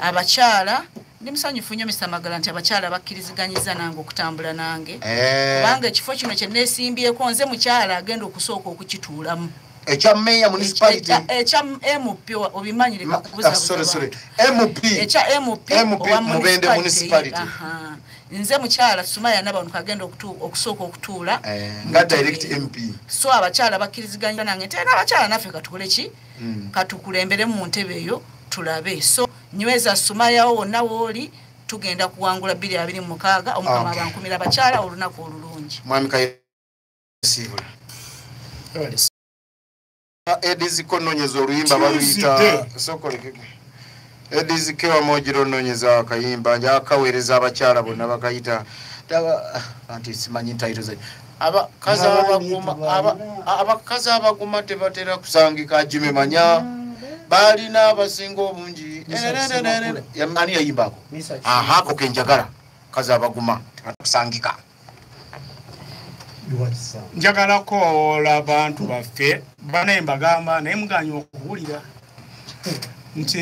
abakyala ndi musanyufu nnyo misa magala nti abakyala bakkiriziganyiza nange okutambula nange eh. kubanga ekifo kino kyenesimbyeko nze mukyala agenda okusooka okukituulamu ekya meya municipality ekya mp obimanyire ekya mp mubende municipality nze mukyala sumaya nabantu agenda okusooka okutuula eh, nga direct mp so abakyala bakkiriziganya nange nti era abakyala naffe katukoleki mm. katukulembere mu ntebe eyo tulabe so nyweza sumayawo wonna wooli tugenda kuwangula biri abiri mu mukaaga omukama okay. abankumira abakyala olunaku olulungi mwami kayesiibula ediziko nonyeza oluyimba baluyita sokolekege Edis Kewa Mojiro nonyeza akayimba nja kawereza abakyala bonna bakayita anti simanyi ntayiro ze abakazi abaguma abakazi abaguma tebatera kusangika jime manya balina abasinga obungi ani yayimbako aha kokenjagala kazi abaguma tebakusangika njagala kowoola bantu baffe banaye mbagamba naye muganya okuwulira nti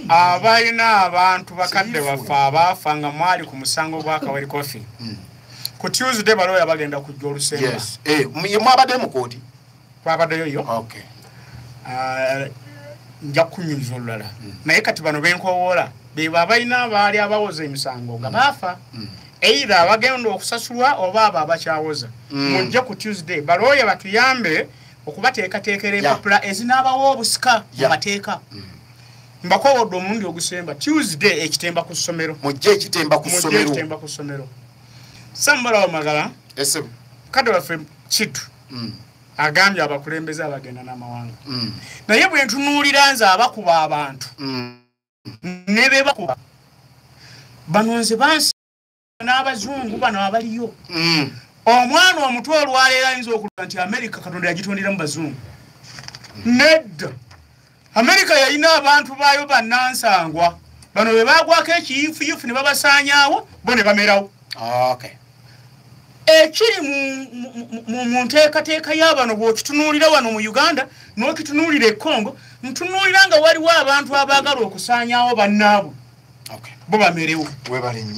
abalina abantu bakadde baffe abaafa nga mwali ku musango gwakaweri kofi hmm. ku tuesday balooya bagenda kujja olusembe eh, mwabadde mukooti twabadeyo yo okay. uh, nja kunyumiza olulala mm. naye kati bano benkowoola bebo abalina abaali abawoza emisango nga mm. baafa mm. eithe abagenda okusasulwa oba abo abakyawoza mm. mujje mm. ku tuesday balooya batuyambe okubateekateekera empapula yeah. ezinaabawo obusika mu yeah. mateeka mm. mbakowodde omulundi ogusemba tuesday ekitemba ku ssomero mujje ekitemba ku ssomero samubalawo magala kade waffe kitu mm. agambye abakulembeze abagenda n'amawanga mm. naye bwe ntunuulira nze abakuba abantu mm. ne be bakuba bano nze bansi n'abazungu bano abaliyo mm. omwana omutwe olwaleero ayinza okula nti amerika katonda yagitondera mu bazungu mm. nedda amerika yalina abantu baayo bannansangwa bano be baagwako ekiyifuyufu ne babasaanyaawo bo ne bamerawo ekiri mu nteekateeka y'abano bw'okitunuulira wano mu uganda n'okitunuulira e congo ntunuulira nga waliwo abantu abaagala okusaanyaawo bannaabwe bo bamerewo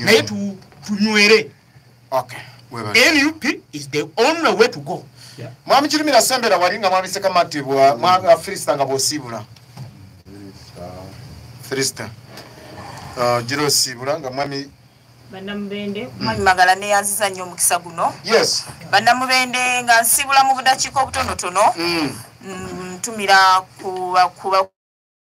naye tunywere okay nup is the only way to go yeah. mwami kirumira sembera wali nga mwami sekamatibwa mwami afirista nga bwosiibula firista uh, gira osiibula nga mwami banamubende mwami magala neyanziza nnyo omukisa guno yes banamubende nga nsiibula mu budakiika obutonotono mm. mm, ntumira kuba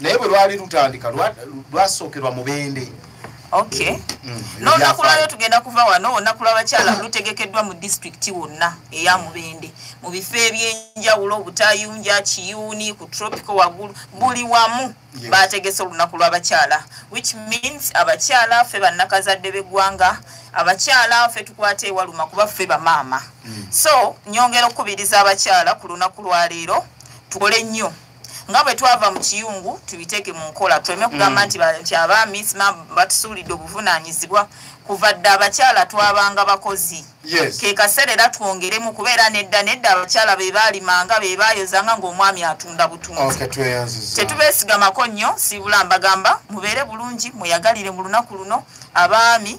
naye bwe lwali lutandika lwasookerwa mubende okay mm, n'olunaku lwayo tugenda kuva wano olunaku lw'abakyala lutegekeddwa mu disitulikiti wonna eya mubende mu bifo eby'enjawulo obutayunja kiyuuni ku tropico waggulu buli wamu baategese olunaku lw'abakyala which means abakyala ffe bannakazadde b'eggwanga abakyala ffe tukwata ewaluma kuba ffe bamaama mm. so nyongera okukubiriza abakyala ku lunaku lwaleero tukole nnyo nga bwe twava mu kiyungu tubiteeke mu nkola tuleme kugamba mm. nti nti abaami sima batusuulidde obuvunaanyizibwa kuva dda abakyala twabanga bakozi ke kaseera era twongeremu kubeera nedda nedda abakyala be baalimanga be baayozanga ng'omwami atunda butunzi tetubeesigamako nnyo siibula mbagamba mubeere bulungi muyagalire mu lunaku luno abaami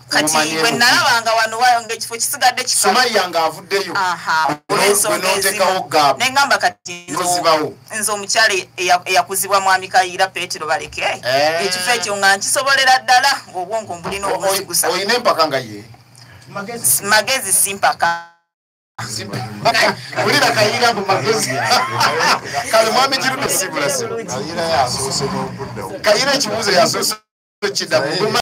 kati bwe nalabanga wano wayo ngaekifo kisigadde kisumaya nga avuddeyo ne ŋamba kati nze omukyala eyakuzibwa mwami kayiira petero baleke eh. ekifo ekyo nga nkisobolera ddala ngaobwongo mbulina obuzigusa olina empaka nga ye magezi simpaka ulira kayira mbu magezi kale mwami kirude sibulasi kayira ekibuuzo yasoose kiddamu